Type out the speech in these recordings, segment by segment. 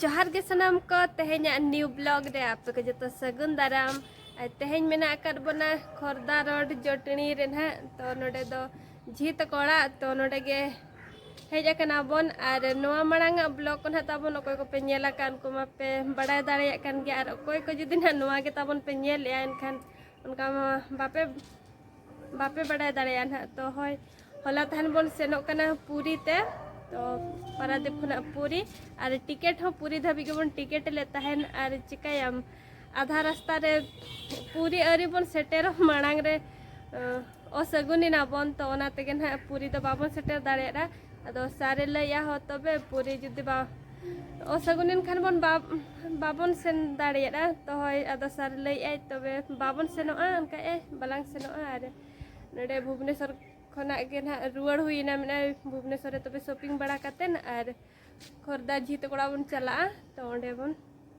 ᱡᱚᱦᱟᱨ ᱜᱮ ᱥᱟᱱᱟᱢ ᱠᱚ ᱛᱮᱦᱮᱧᱟᱜ ᱱᱤᱭᱩ ᱵᱞᱚᱜ ᱨᱮ ᱟᱯᱮ ᱠᱚ ᱡᱚᱛᱚ ᱥᱟᱹᱜᱩᱱ ᱫᱟᱨᱟᱢ ᱟᱨ ᱛᱮᱦᱮᱧ ᱢᱮᱱᱟᱜ ᱟᱠᱟᱫ ᱵᱚᱱᱟ ᱠᱷᱚᱨᱫᱟ ᱨᱳᱰ ᱡᱚᱴᱱᱤ ᱨᱮ ᱱᱟᱦᱟᱜ ᱛᱚ ᱱᱚᱰᱮ ᱫᱚ ᱡᱷᱤ ᱛᱟᱠᱚ ᱚᱲᱟᱜ ᱛᱚ ᱱᱚᱰᱮ ᱜᱮ ᱦᱮᱡ ᱟᱠᱟᱱᱟ ᱵᱚᱱ ᱟᱨ ᱱᱚᱣᱟ ᱢᱟᱲᱟᱝ ᱟᱜ ᱵᱞᱚᱜ ᱠᱚ ᱱᱟᱦᱟᱜ ᱛᱟᱵᱚᱱ ᱚᱠᱚᱭ ᱠᱚᱯᱮ ᱧᱮᱞ ᱟᱠᱟᱫ ᱩᱱᱠᱩ ᱢᱟᱯᱮ ᱵᱟᱲᱟᱭ ᱫᱟᱲᱮᱭᱟᱜ ᱠᱟᱱ ᱜᱮᱭᱟ ᱟᱨ ᱚᱠᱚᱭ ᱠᱚ ᱡᱩᱫᱤ ᱱᱟᱦᱟᱜ ᱱᱚᱣᱟ ᱜᱮ ᱛᱟᱵᱚᱱ ᱯᱮ ᱧᱮᱞᱮᱜᱼᱟ ᱮᱱᱠᱷᱟᱱ ᱚᱱᱠᱟ ᱢᱟ ᱵᱟᱯᱮ ᱵᱟᱯᱮ ᱵᱟᱰᱟᱭ ᱫᱟᱲᱮᱭᱟᱜᱼᱟ ᱱᱟᱦᱟᱜ ᱛᱚ ᱦᱳᱭ ᱦᱚᱞᱟ ᱛᱟᱦᱮᱱ ᱵᱚᱱ ᱥᱮᱱᱚᱜ ᱠᱟᱱᱟ ᱯᱩᱨᱤ ᱛᱮ ᱛᱚ ᱯᱟᱨᱟᱫᱤᱯ ᱠᱷᱚᱱᱟᱜ ᱯᱩᱨᱤ ᱟᱨ ᱴᱤᱠᱮᱴ ᱦᱚᱸ ᱯᱩᱨᱤ ᱫᱷᱟᱹᱵᱤᱡ ᱜᱮᱵᱚᱱ ᱴᱤᱠᱮᱴ ᱞᱮᱫ ᱛᱟᱦᱮᱱ ᱟᱨ ᱪᱤᱠᱟᱹᱭᱟᱢ ᱟᱫᱷᱟ ᱨᱟᱥᱛᱟ ᱨᱮ ᱯᱩᱨᱤ ᱟᱹᱣᱨᱤ ᱵᱚᱱ ᱥᱮᱴᱮᱨᱚᱜ ᱢᱟᱲᱟᱝ ᱨᱮ ᱚᱥᱟᱹᱜᱩᱱ ᱮᱱᱟ ᱵᱚᱱ ᱛᱚ ᱚᱱᱟ ᱛᱮᱜᱮ ᱱᱟᱦᱟᱜ ᱯᱩᱨᱤ ᱫᱚ ᱵᱟᱵᱚᱱ ᱥᱮᱴᱮᱨ ᱫᱟᱲᱮᱭᱟᱫᱟ ᱟᱫᱚ ᱥᱟᱨᱮ ᱞᱟᱹᱭᱟ ᱦᱚᱸ ᱛᱚᱵᱮ ᱯᱩᱨᱤ ᱡᱩᱫᱤ ᱵᱟ ᱚᱥᱟᱜᱩᱱᱤᱱ ᱠᱷᱟᱱ ᱵᱚᱱ ᱵᱟᱵᱚᱱ ᱥᱮᱱ ᱫᱟᱲᱮᱭᱟᱜᱼᱟ ᱛᱚ ᱦᱚᱭ ᱟᱫᱚ ᱥᱟᱨ ᱞᱟᱹᱭᱮᱫᱼᱟᱭ ᱛᱚᱵᱮ ᱵᱟᱵᱚᱱ ᱥᱮᱱᱚᱜᱼᱟ ᱚᱱᱠᱟ ᱮ ᱵᱟᱞᱟᱝ ᱥᱮᱱᱚᱜᱼᱟ ᱟᱨ ᱱᱚᱰᱮ ᱵᱷᱩᱵᱽᱱᱮᱥᱚᱨ ᱠᱷᱚᱱᱟᱜ ᱜᱮ ᱱᱟᱜ ᱨᱩᱣᱟᱹᱲ ᱦᱩᱭᱮᱱᱟ ᱢᱮᱱᱟᱭ ᱵᱷᱩᱵᱽᱱᱮᱥᱚᱨ ᱨᱮ ᱛᱚᱵᱮ ᱥᱚᱯᱤᱝ ᱵᱟᱲᱟ ᱠᱟᱛᱮᱫ ᱟᱨ ᱠᱷᱚᱨᱫᱟ ᱡᱷᱤᱛ ᱠᱚᱲᱟ ᱵᱚᱱ ᱪᱟᱞᱟᱜᱼᱟ ᱛᱚ ᱚᱸᱰᱮ ᱵᱚᱱ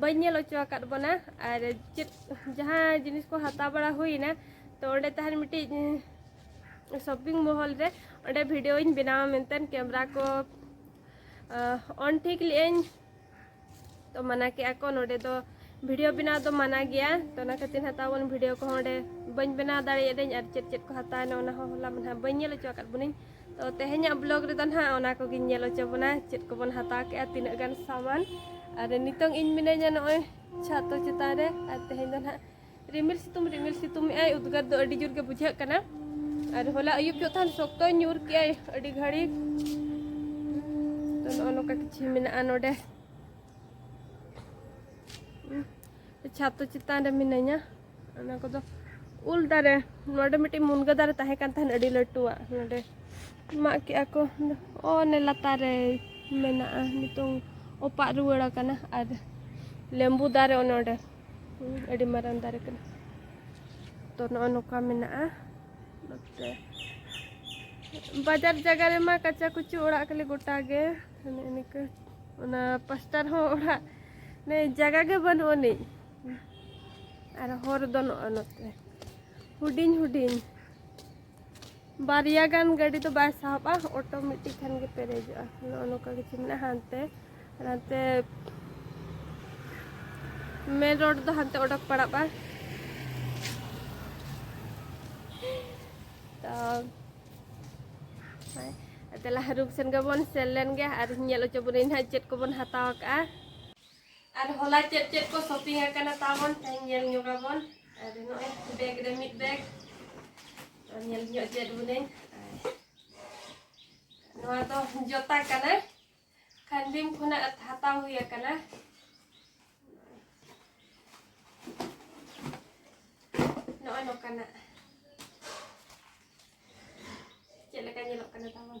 ᱵᱟᱹᱧ ᱧᱮᱞ ᱚᱪᱚ ᱟᱠᱟᱫ ᱵᱚᱱᱟ ᱟᱨ ᱪᱮᱫ ᱡᱟᱦᱟᱸ ᱡᱤᱱᱤᱥ ᱠᱚ ᱦᱟᱛᱟᱣ ᱵᱟᱲᱟ ᱦᱩᱭᱱᱟ ᱛᱚ ᱚᱸᱰᱮ ᱛᱟᱦᱮᱱ ᱢᱤᱫᱴᱤᱡ ᱥᱚᱯᱤᱝ ᱢᱚᱦᱚᱞ ᱨᱮ ᱚᱸᱰᱮ ᱵᱷᱤᱰᱤᱭᱳᱧ ᱵᱮᱱᱟᱣᱟ ᱢᱮᱱᱛᱮ ᱠᱮᱢᱨᱟ ᱠᱚ ᱚᱱ ᱴᱷᱤᱠ ᱞᱮᱜᱼᱟᱹᱧ ᱛᱚ ᱢᱟᱱᱟ ᱠᱮᱜᱼᱟ ᱠᱚ ᱱᱚᱸᱰᱮ ᱫᱚ ᱵᱷᱤᱰᱤᱭᱳ ᱵᱮᱱᱟᱣ ᱫᱚ ᱢᱟᱱᱟ ᱜᱮᱭᱟ ᱛᱚ ᱚᱱᱟ ᱠᱷᱟᱹᱛᱤᱨ ᱦᱟᱛᱟᱣ ᱵᱚᱱ ᱵᱷᱤᱰᱤᱭᱳ ᱠᱚᱦᱚᱸ ᱚᱸᱰᱮ ᱵᱟᱹᱧ ᱵᱮᱱᱟᱣ ᱫᱟᱲᱮᱭᱟᱫᱟᱹᱧ ᱟᱨ ᱪᱮᱫ ᱪᱮᱫ ᱠᱚ ᱦᱟᱛᱟᱣᱱᱟ ᱚᱱᱟ ᱦᱚᱸ ᱦᱚᱞᱟ ᱢᱟᱱᱟ ᱵᱟᱹᱧ ᱧᱮᱞ ᱚᱪᱚ ᱟᱠᱟᱫ ᱵᱚᱱᱟᱹᱧ ᱛᱚ ᱛᱮᱦᱮᱧᱟᱜ ᱵᱞᱚᱜ ᱨᱮᱫᱚ ᱱᱟᱦᱟᱜ ᱚᱱᱟ ᱠᱚᱜᱮᱧ ᱧᱮᱞ ᱦᱚᱪᱚ ᱵᱚᱱᱟ ᱪᱮᱫ ᱠᱚᱵᱚᱱ ᱦᱟᱛᱟᱣ ᱠᱮᱜᱼᱟ ᱛᱤᱱᱟᱹᱜ ᱜᱟᱱ ᱥᱟᱢᱟᱱ ᱟᱨ ᱱᱤᱛᱚᱝ ᱤᱧ ᱢᱤᱱᱟᱹᱧᱟ ᱱᱚᱜᱼᱚᱭ ᱪᱷᱟᱛᱚ ᱪᱮᱛᱟᱱ ᱨᱮ ᱟᱨ ᱛᱮᱦᱮᱧ ᱫᱚ ᱱᱟᱦᱟᱜ ᱨᱤᱢᱤᱞ ᱥᱤᱛᱩᱝ ᱨᱤᱢᱤᱞ ᱥᱤᱛᱩᱝ ᱮᱜᱼᱟᱭ ᱩᱫᱽᱜᱟᱹᱨ ᱫᱚ ᱟᱹᱰᱤ ᱡᱳᱨ ᱜᱮ ᱵᱩᱡᱷᱟᱹᱜ ᱠᱟᱱᱟ ᱟᱨ ᱦᱚᱞᱟ ᱟᱹᱭᱩᱵ ᱡᱚᱜ ᱛᱟᱦᱮᱱ ᱥᱚᱠᱛᱚᱭ ᱧᱩᱨ ᱠᱮᱜᱼᱟᱭ ᱟᱹᱰᱤ ᱜᱷᱟᱹᱲᱤᱡ ᱛᱚ ᱱᱚᱜᱼᱚ ᱱᱚᱝᱠᱟ ᱠᱤᱪᱷᱩ ᱢᱮᱱᱟᱜᱼᱟ ᱱᱚᱰᱮ ᱪᱷᱟᱛᱚ ᱪᱮᱛᱟᱱ ᱨᱮ ᱢᱤᱱᱟᱹᱧᱟ ᱚᱱᱟ ᱠᱚᱫᱚ ᱩᱞ ᱫᱟᱨᱮ ᱱᱚᱰᱮ ᱢᱤᱫᱴᱤᱡ ᱢᱩᱱᱜᱟᱹ ᱫᱟᱨᱮ ᱛᱟᱦᱮᱸ ᱠᱟᱱ ᱛᱟᱦᱮᱱ ᱟᱹᱰᱤ ᱞᱟᱹᱴᱩᱣᱟᱜ ᱱᱚᱰᱮ ᱢᱟᱜ ᱠᱮᱜᱼᱟ ᱠᱚ ᱚᱱᱮ ᱞᱟᱛᱟᱨ ᱨᱮ ᱢᱮᱱᱟᱜᱼᱟ ᱱᱤᱛᱚᱝ ᱚᱯᱟᱜ ᱨᱩᱣᱟᱹᱲ ᱟᱠᱟᱱᱟ ᱟᱨ ᱞᱮᱢᱵᱩ ᱫᱟᱨᱮ ᱚᱱᱮ ᱚᱸᱰᱮ ᱟᱹᱰᱤ ᱢᱟᱨᱟᱝ ᱫᱟᱨᱮ ᱠᱟᱱᱟ ᱛᱚ ᱱᱚᱜᱼᱚ ᱱᱚᱝᱠᱟ ᱢᱮᱱᱟᱜᱼᱟ ᱱᱚᱛᱮ ᱵᱟᱡᱟᱨ ᱡᱟᱭᱜᱟ ᱨᱮᱢᱟ ᱠᱟᱪᱟ ᱠᱩᱪᱩ ᱚᱲᱟᱜ ᱠᱷᱟᱹᱞᱤ ᱜᱚᱴᱟ ᱜᱮ ᱚᱱᱮ ᱤᱱᱠᱟᱹ ᱚᱱᱟ ᱯᱟᱥᱴᱟ ᱨᱮᱦᱚᱸ ᱚᱲᱟᱜ ᱡᱟᱭᱜᱟ ᱜᱮ ᱵᱟᱹᱱᱩᱜ ᱟᱹᱱᱤᱡ ᱟᱨ ᱦᱚᱨ ᱫᱚ ᱱᱚᱜᱼᱚ ᱱᱚᱛᱮ ᱦᱩᱰᱤᱧ ᱦᱩᱰᱤᱧ ᱵᱟᱨᱭᱟ ᱜᱟᱱ ᱜᱟᱹᱰᱤ ᱫᱚ ᱵᱟᱭ ᱥᱟᱦᱚᱵᱼᱟ ᱚᱴᱳ ᱢᱤᱫᱴᱤᱡ ᱠᱷᱟᱱ ᱜᱮ ᱯᱮᱨᱮᱡᱚᱜᱼᱟ ᱱᱚᱜᱼᱚ ᱱᱚᱝᱠᱟ ᱠᱤᱪᱷᱩ ᱢᱮᱱᱟᱜᱼᱟ ᱦᱟᱱᱛᱮ ᱟᱨ ᱦᱟᱱᱛᱮ ᱢᱮᱱ ᱨᱳᱰ ᱫᱚ ᱦᱟᱱᱛᱮ ᱚᱰᱚᱠ ᱯᱟᱲᱟᱜᱼᱟ ᱛᱚ ᱛᱟᱦᱚᱞᱮ ᱦᱟᱹᱨᱩᱵ ᱥᱮᱱ ᱜᱮᱵᱚᱱ ᱥᱮᱱ ᱞᱮᱱ ᱜᱮ ᱟᱨ ᱧᱮᱞ ᱦᱚᱪᱚ ᱵᱚᱱᱟᱹᱧ ᱦᱟᱸᱜ ᱪᱮᱫ ᱠᱚᱵᱚᱱ ᱦᱟᱛᱟᱣ ᱠᱟᱜᱼᱟ ᱟᱨ ᱦᱚᱞᱟ ᱪᱮᱫ ᱪᱮᱫ ᱠᱚ ᱥᱚᱯᱤᱝ ᱟᱠᱟᱱᱟ ᱛᱟᱵᱚᱱ ᱛᱮᱦᱮᱧ ᱧᱮᱞ ᱧᱚᱜᱟᱵᱚᱱ ᱟᱨ ᱱᱚᱜᱼᱚᱭ ᱵᱮᱜᱽ ᱨᱮ ᱢᱤᱫ ᱵᱮᱜᱽ ᱟᱨ ᱧᱮᱞ ᱧᱚᱜ ᱪᱮᱫ ᱵᱚᱞᱮᱧ ᱱᱚᱣᱟ ᱫᱚ ᱡᱚᱛᱟ ᱠᱟᱱᱟ ᱠᱷᱟᱱᱰᱤᱢ ᱠᱷᱚᱱᱟᱜ ᱦᱟᱛᱟᱣ ᱦᱩᱭ ᱟᱠᱟᱱᱟ ᱱᱚᱜᱼᱚᱭ ᱱᱚᱝᱠᱟᱱᱟᱜ ᱪᱮᱫ ᱞᱮᱠᱟ ᱧᱮᱞᱚᱜ ᱠᱟᱱᱟ ᱛᱟᱵᱚᱱ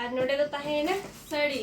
ᱟᱨ ᱱᱚᱰᱮ ᱫᱚ ᱛᱟᱦᱮᱸᱭᱮᱱᱟ ᱥᱟᱹᱲᱤ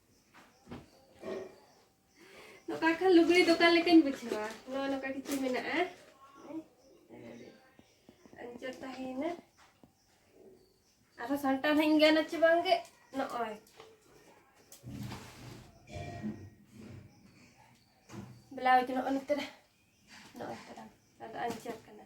ᱱᱚᱝᱠᱟ ᱠᱷᱟᱱ ᱞᱩᱜᱽᱲᱤ ᱫᱚᱠᱟᱱ ᱞᱮᱠᱟᱧ ᱵᱩᱡᱷᱟᱹᱣᱟ ᱱᱚᱣᱟ ᱱᱚᱝᱠᱟ ᱠᱤᱪᱷᱩ ᱢᱮᱱᱟᱜᱼᱟ ᱟᱸᱡᱚᱨ ᱛᱟᱦᱮᱸᱭᱮᱱᱟ ᱟᱨᱦᱚᱸ ᱥᱟᱱᱴᱟᱣ ᱦᱟᱹᱧ ᱜᱟᱱᱟ ᱪᱮ ᱵᱟᱝᱜᱮ ᱱᱚᱜᱼᱚᱭ ᱵᱞᱟᱣᱩᱡᱽ ᱱᱚᱜᱼᱚ ᱱᱚᱛᱮ ᱨᱮ ᱱᱚᱜᱼᱚᱭ ᱛᱟᱨᱟ ᱟᱫᱚ ᱟᱸᱡᱚᱨ ᱠᱟᱱᱟ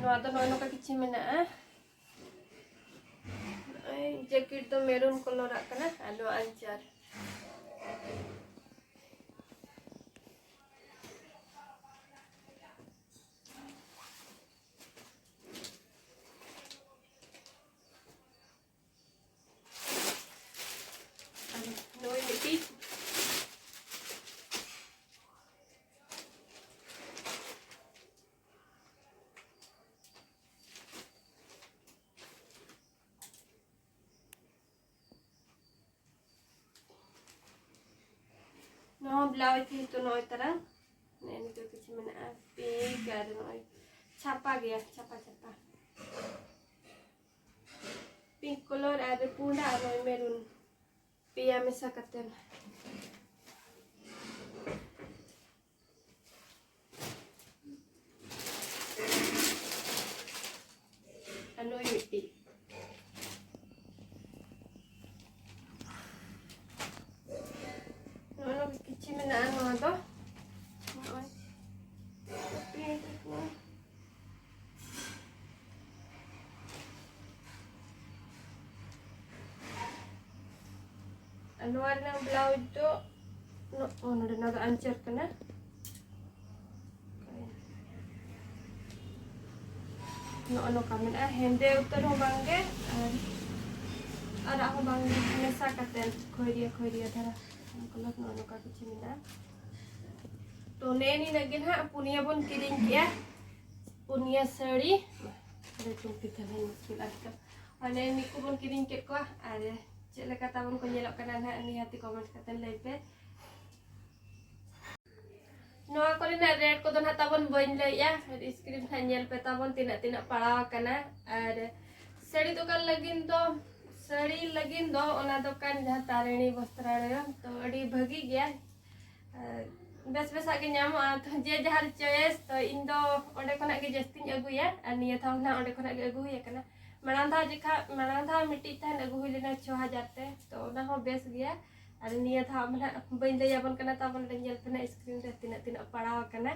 ᱱᱚᱣᱟ ᱫᱚ ᱱᱚᱜᱼᱚᱭ ᱱᱚᱝᱠᱟ ᱠᱤᱪᱷᱤ ᱢᱮᱱᱟᱜᱼᱟ ᱱᱚᱜᱼᱚᱭ ᱡᱮᱠᱮᱴ ᱫᱚ ᱢᱮᱨᱩᱱ ᱠᱚᱞᱚᱨᱟᱜ ᱠᱟᱱᱟ ᱟᱨ ᱱᱚᱣᱟ ᱟᱧᱪᱟᱨ ᱱᱚᱣᱟ ᱵᱞᱟᱣᱩᱡᱽ ᱡᱮᱦᱮᱛᱩ ᱱᱚᱜᱼᱚᱭ ᱛᱟᱨᱟ ᱱᱮᱜᱼᱮ ᱱᱤᱛᱚᱜ ᱠᱤᱪᱷᱩ ᱢᱮᱱᱟᱜᱼᱟ ᱯᱤᱝᱠ ᱟᱨ ᱱᱚᱜᱼᱚᱭ ᱪᱷᱟᱯᱟ ᱜᱮᱭᱟ ᱪᱷᱟᱯᱟ ᱪᱷᱟᱯᱟ ᱯᱤᱝᱠ ᱠᱚᱞᱚᱨ ᱟᱨ ᱯᱩᱸᱰᱟ ᱟᱨ ᱱᱚᱜᱼᱚᱭ ᱢᱮᱨᱩᱱ ᱯᱮᱭᱟ ᱢᱮᱥᱟ ᱠᱟᱛᱮ ᱟᱨ ᱱᱩᱭ ᱢᱤᱫᱴᱤᱡ ᱱᱚᱜᱼᱚ ᱠᱤᱪᱷᱤ ᱢᱮᱱᱟᱜᱼᱟ ᱱᱚᱣᱟ ᱫᱚ ᱱᱚᱣᱟ ᱨᱮᱱᱟᱜ ᱵᱞᱟᱣᱩᱡᱽ ᱫᱚ ᱱᱚᱰᱮ ᱱᱚᱣᱟ ᱫᱚ ᱟᱧᱪᱟᱨ ᱠᱟᱱᱟ ᱱᱚᱜᱼᱚ ᱱᱚᱝᱠᱟ ᱢᱮᱱᱟᱜᱼᱟ ᱦᱮᱸᱫᱮ ᱩᱛᱟᱹᱨ ᱦᱚᱸ ᱵᱟᱝᱜᱮ ᱟᱨ ᱟᱨᱟᱜ ᱦᱚᱸ ᱵᱟᱝᱜᱮ ᱢᱮᱥᱟ ᱠᱟᱛᱮᱫ ᱠᱷᱚᱭᱨᱤᱭᱟᱹ ᱠᱷᱚᱭᱨᱤᱭᱟᱹ ᱫᱷᱟᱨᱟ ᱠᱟᱞᱟᱨ ᱱᱚᱜᱼᱚ ᱱᱚᱝᱠᱟ ᱠᱤᱪᱷᱩ ᱢᱮᱱᱟᱜᱼᱟ ᱛᱚ ᱱᱮ ᱱᱤᱱᱟᱹᱜ ᱜᱮ ᱱᱟᱦᱟᱜ ᱯᱩᱱᱭᱟᱹ ᱵᱚᱱ ᱠᱤᱨᱤᱧ ᱠᱮᱜᱼᱟ ᱯᱩᱱᱭᱟᱹ ᱥᱟᱹᱲᱤ ᱞᱟᱹᱴᱩ ᱯᱤᱴᱷᱟᱹ ᱦᱚᱸ ᱢᱩᱥᱠᱤᱞ ᱟᱨᱠᱤ ᱢᱟᱱᱮ ᱱᱤᱭᱟᱹ ᱠᱚᱵᱚᱱ ᱠᱤᱨᱤᱧ ᱠᱮᱫ ᱠᱚᱣᱟ ᱟᱨ ᱪᱮᱫ ᱞᱮᱠᱟ ᱛᱟᱵᱚᱱ ᱠᱚ ᱧᱮᱞᱚᱜ ᱠᱟᱱᱟ ᱱᱟᱦᱟᱜ ᱱᱤᱦᱟᱹᱛᱤ ᱠᱚᱢᱮᱱᱴ ᱠᱟᱛᱮ ᱞᱟᱹᱭ ᱯᱮ ᱱᱚᱣᱟ ᱠᱚᱨᱮᱱᱟᱜ ᱨᱮᱴ ᱠᱚᱫᱚ ᱱᱟᱦᱟᱜ ᱛᱟᱵᱚᱱ ᱵᱟᱹᱧ ᱞᱟᱹᱭᱮᱜᱼᱟ ᱥᱠᱨᱤᱱ ᱠᱷᱟᱱ ᱧᱮᱞ ᱯᱮ ᱛᱟᱵᱚᱱ ᱛᱤᱱᱟᱹᱜ ᱛᱤᱱᱟᱹᱜ ᱯᱟᱲᱟᱣ ᱟᱠᱟᱱᱟ ᱟᱨ ᱥᱟᱹᱲᱤ ᱫᱚᱠᱟᱱ ᱞᱟᱹᱜᱤᱫ ᱫᱚ ᱥᱟᱹᱲᱤ ᱞᱟᱹᱜᱤᱫ ᱫᱚ ᱚᱱᱟ ᱫᱚᱠᱟᱱ ᱡᱟᱦᱟᱸ ᱛᱟᱨᱤᱬᱤ ᱵᱚᱥᱛᱨᱟᱞᱚᱭ ᱛᱚ ᱟᱹᱰᱤ ᱵᱷᱟᱹᱜᱤ ᱜᱮᱭᱟ ᱵᱮᱥ ᱵᱮᱥᱟᱜ ᱜᱮ ᱧᱟᱢᱚᱜᱼᱟ ᱛᱚ ᱡᱮ ᱡᱟᱦᱟᱨ ᱪᱚᱭᱮᱥ ᱛᱚ ᱤᱧ ᱫᱚ ᱚᱸᱰᱮ ᱠᱷᱚᱱᱟᱜ ᱜᱮ ᱡᱟᱹᱥᱛᱤᱧ ᱟᱹᱜᱩᱭᱟ ᱟᱨ ᱱᱤᱭᱟᱹ ᱫᱷᱟᱣ ᱦᱚᱸ ᱚᱸᱰᱮ ᱠᱷᱚᱱᱟᱜ ᱜᱮ ᱟᱹᱜᱩ ᱦᱩᱭ ᱟᱠᱟᱱᱟ ᱢᱟᱲᱟᱝ ᱫᱷᱟᱣ ᱡᱮᱠᱷᱟ ᱢᱟᱲᱟᱝ ᱫᱷᱟᱣ ᱢᱤᱫᱴᱤᱡ ᱛᱟᱦᱮᱱ ᱟᱹᱜᱩ ᱦᱩᱭ ᱞᱮᱱᱟ ᱪᱷᱚ ᱦᱟᱡᱟᱨ ᱛᱮ ᱛᱚ ᱚᱱᱟ ᱦᱚᱸ ᱵᱮᱥ ᱜᱮᱭᱟ ᱟᱨ ᱱᱤᱭᱟᱹ ᱫᱷᱟᱣ ᱢᱟ ᱱᱟᱦᱟᱜ ᱵᱟᱹᱧ ᱞᱟᱹᱭ ᱟᱵᱚᱱ ᱠᱟᱱᱟ ᱛᱟᱵᱚᱱ ᱱᱚᱰᱮ ᱧᱮᱞ ᱯᱮ ᱱᱟᱦᱟᱜ ᱥᱠᱨᱤᱱ ᱨᱮ ᱛᱤᱱᱟᱹᱜ ᱛᱤᱱᱟᱹᱜ ᱯᱟᱲᱟᱣ ᱟᱠᱟᱱᱟ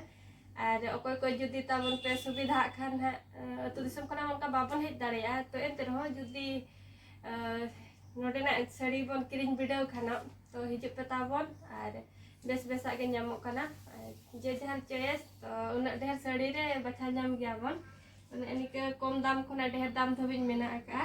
ᱟᱨ ᱚᱠᱚᱭ ᱠᱚ ᱡᱩᱫᱤ ᱛᱟᱵᱚᱱ ᱯᱮ ᱥᱩᱵᱤᱫᱷᱟᱜ ᱠᱷᱟᱱ ᱱᱟᱦᱟᱜ ᱟᱹᱛᱩ ᱫᱤᱥᱚᱢ ᱠᱷᱚᱱᱟᱜ ᱚᱱᱠᱟ ᱵᱟᱵᱚᱱ ᱦᱮᱡ ᱫᱟᱲᱮᱭᱟᱜᱼᱟ ᱛᱚ ᱮᱱᱛᱮ ᱨᱮᱦᱚᱸ ᱡᱩᱫᱤ ᱱᱚᱰᱮᱱᱟᱜ ᱥᱟᱹᱲᱤ ᱵᱚᱱ ᱠᱤᱨᱤᱧ ᱵᱤᱰᱟᱹᱣ ᱠᱷᱟᱱ ᱛᱚ ᱦᱤᱡᱩᱜ ᱯᱮ ᱛᱟᱵᱚᱱ ᱟᱨ ᱵᱮᱥ ᱵᱮᱥᱟᱜ ᱜᱮ ᱧᱟᱢᱚᱜ ᱠᱟᱱᱟ ᱟᱨ ᱡᱮ ᱡᱟᱦᱟᱨ ᱪᱚᱭᱮᱥ ᱛᱚ ᱩᱱᱟᱹᱜ ᱰᱷᱮᱨ ᱥᱟᱹᱲᱤ ᱨᱮ ᱵᱟᱪᱷᱟᱣ ᱧᱟᱢ ᱜᱮᱭᱟᱵᱚᱱ ᱢᱟᱱᱮ ᱱᱤᱝᱠᱟᱹ ᱠᱚᱢ ᱫᱟᱢ ᱠᱷᱚᱱᱟᱜ ᱰᱷᱮᱨ ᱫᱟᱢ ᱫᱷᱟᱹᱵᱤᱡ ᱢᱮᱱᱟᱜ ᱟᱠᱟᱫᱼᱟ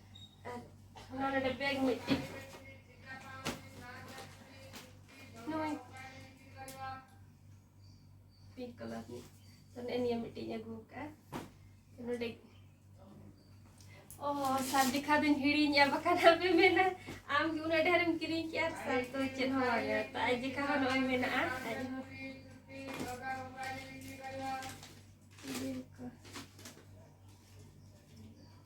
ᱟᱨ ᱚᱱᱟ ᱱᱚᱰᱮ ᱵᱮᱜᱽ ᱢᱤᱫᱴᱤᱡ ᱱᱚᱜᱼᱚᱭ ᱯᱤᱝᱠ ᱠᱟᱞᱟᱨ ᱨᱤᱱᱤᱡ ᱛᱚ ᱱᱮᱜᱼᱮ ᱱᱤᱭᱟᱹ ᱢᱤᱫᱴᱤᱡ ᱤᱧ ᱟᱹᱜᱩ ᱟᱠᱟᱫᱼᱟ ᱛᱚ ᱱᱚᱰᱮ ᱚ ᱥᱟᱨ ᱫᱮᱠᱷᱟ ᱫᱚᱧ ᱦᱤᱲᱤᱧᱟ ᱵᱟᱠᱷᱟᱱ ᱟᱯᱮ ᱢᱮᱱᱟ ᱟᱢ ᱜᱮ ᱩᱱᱟᱹᱜ ᱰᱷᱮᱨᱮᱢ ᱠᱤᱨᱤᱧ ᱠᱮᱜᱼᱟ ᱥᱟᱨ ᱫᱚ ᱪᱮᱫ ᱦᱚᱸ ᱵᱟᱝᱟ ᱛᱚ ᱟᱡ ᱫᱮᱠᱷᱟ ᱦᱚᱸ ᱱᱚᱜᱼᱚᱭ ᱢᱮᱱᱟᱜᱼᱟ ᱟᱡ ᱦᱚᱸ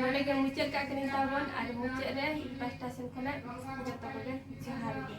ᱱᱚᱰᱮ ᱜᱮ ᱢᱩᱪᱟᱹᱫ ᱠᱟᱜ ᱠᱟᱹᱱᱟᱹᱧ ᱛᱟᱵᱚᱱ ᱟᱨ ᱢᱩᱪᱟᱹᱫ ᱨᱮ ᱤᱧ ᱯᱟᱥᱴᱟ ᱥᱮᱱ ᱠᱷᱚᱱᱟᱜ ᱡᱚᱛᱚ ᱠᱚᱜᱮ ᱡᱚᱦᱟᱨ ᱜᱮ